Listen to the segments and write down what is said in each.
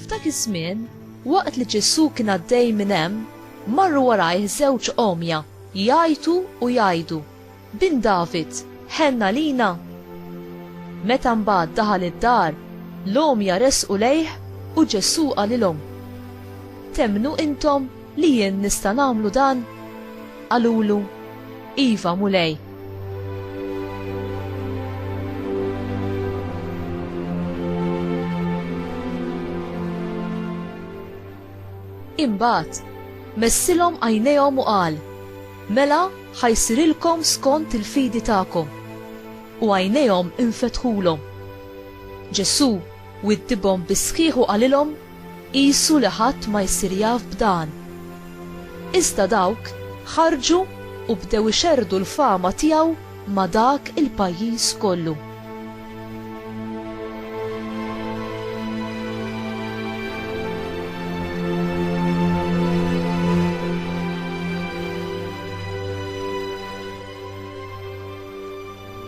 F'dak iż-żmien, waqt li Ġesù kien għaddej minn hemm, marru warajh żewġ għomja jgħajtu u jgħidu, Bin David, ħenn għalina! Meta mbagħad daħal id-dar, l-għomja resqu lejh u Ġesù qalilhom, Temmnu intom li jien nista' nagħmlu dan? Qalulu, Iva, Mulej. Imbagħad, messilhom għajnejhom u qal, Mela, Ħa jsirilkom skont il-fidi tagħkom. U għajnejhom infetħulhom. Ġesù widdibhom bis-sħiħ u qalilhom, Qisu li ħadd ma jsir jaf b'dan. Iżda dawk ħarġu u bdew ixerrdu l-fama tiegħu ma' dak il-pajjiż kollu.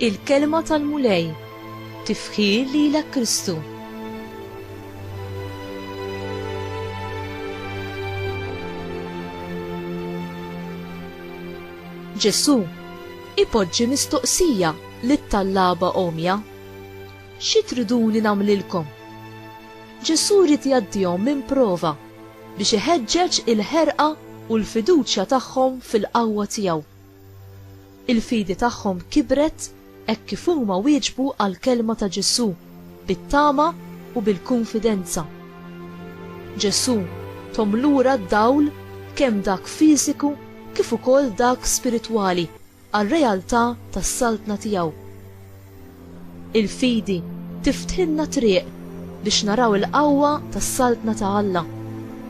il-kelma tal-Mulej, tifħir lilek Kristu. Ġesu, ipoġġi mistoqsija Lit-tallaba għomja, Xi triduni nagħmlilkom? Ġesù ried jgħaddihom minn prova biex iħeġġeġ il-ħerqa u l-fiduċja tagħhom fil-qawwa tiegħu. Il-fidi tagħhom kibret hekk kif huma wieġbu għall-kelma ta' Ġesù bit-tama u bil-kunfidenza. Ġesù thom lura d-dawl kemm dak fiżiku kif ukoll dak spiritwali. għar-realtà tas-Saltna tiegħu. Il-fidi tiftħilna t-triq biex naraw il-qawwa tas-Saltna ta' Alla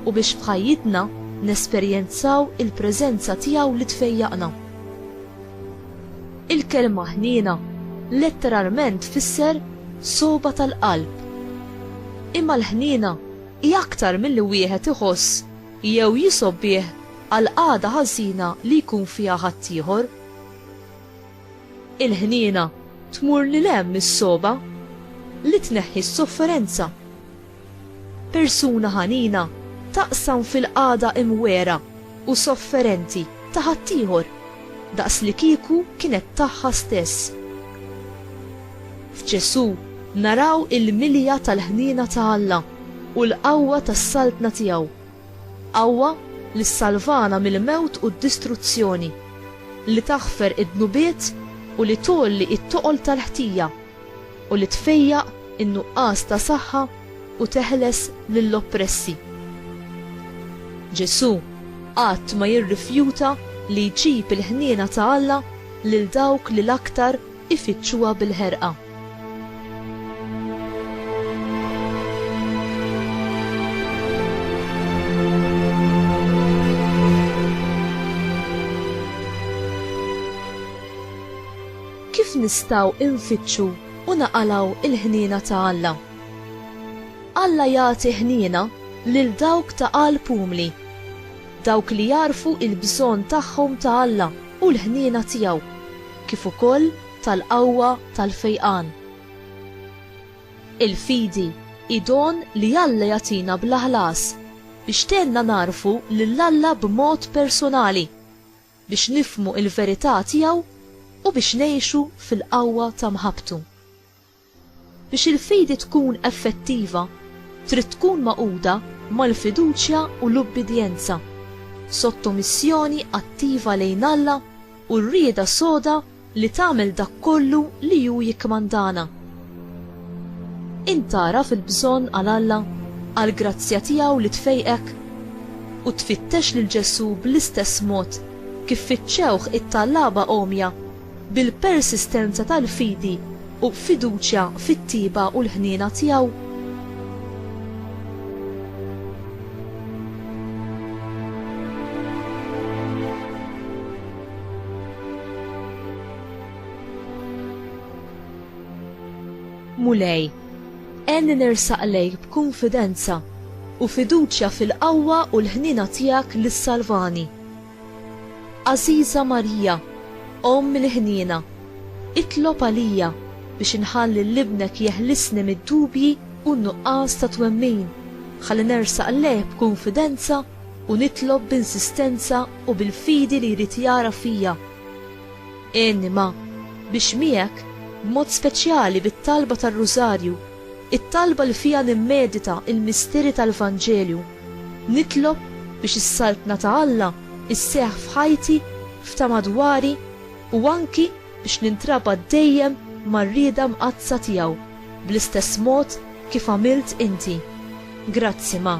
u biex f'ħajjitna nesperjenzaw il-preżenza tiegħu li tfejjaqna. Il-kelma ħniena letteralment tfisser sogħba tal-qalb. Imma l-ħniena hi aktar milli wieħed iħoss jew jisgħob bih għal qagħda ħażina li jkun fiha ħaddieħor. Il-ħniena tmur lil hemm mis-sogħba li tneħħi s-sofferenza. Persuna ħanina taqsam fil-qagħda imwegħra u sofferenti ta' ħaddieħor daqslikieku kienet tagħha stess. F'Ġesù naraw il-milja tal-ħniena ta' Alla u l-qawwa tas-Saltna tiegħu, qawwa li ssalvana mill-mewt u d-distruzzjoni, li taħfer id-dnubiet u li tgħolli it-toqol tal-ħtija, u li tfejjaq in-nuqqas ta' saħħa u teħles lill-oppressi. Ġesù qatt ma jirrifjuta li jġib il-ħniena ta' Alla lil dawk li l-aktar ifittxuha bil-ħerqa. Kif nistgħu nfittxu u naqalgħu l-ħniena ta' Alla? Alla jagħti ħniena lil dawk ta' qalb umli, dawk li jagħrfu l-bżonn tagħhom ta' Alla u l-ħniena tiegħu. kif ukoll tal-qawwa tal-fejqan. Il-fidi hi don li Alla jagħtina bla ħlas biex tgħinna nagħrfu lil Alla b'mod persunali, biex nifhmu l-verità tiegħu u biex ngħixu fil-qawwa ta' mħabbtu. Biex il-fidi tkun effettiva, trid tkun magħquda mal-fiduċja u l-ubbidjenza, sottomissjoni attiva lejn Alla u r-rieda soda li tagħmel dak kollu li hu jikkmandana. Int tagħraf il-bżonn għal Alla, għall-grazzja tiegħu li tfejqek? U tfittex lil Ġesù bl-istess mod kif fittxewh it-tallaba għomja bil-persistenza tal-fidi u fiduċja fit-tjieba u l-ħniena tiegħu. Mulej, għenni nersaq lejk b'kunfidenza u fiduċja fil-qawwa u l-ħniena tiegħek li ssalvani. Għażiża Marija, Omm il-ħniena, itlob għalija biex inħalli lil Ibnek jeħlisni mid-dubji u n-nuqqas ta' twemmin, ħalli nersaq lejh b'kunfidenza u nitlob b'insistenza u bil-fidi li jrid jara fija. Għinni ma, biex miegħek, b'mod speċjali bit-talba tar-Rużarju, It-talba li fiha nimmedita l-misteri tal-Vanġelju, Nitlob biex is-Saltna ta' Alla sseħħ f'ħajti, f'ta' madwari, u anki biex nintrabat dejjem mar-rieda mqaddsa tiegħu, bl-istess mod kif għamilt inti. Grazzi, Ma.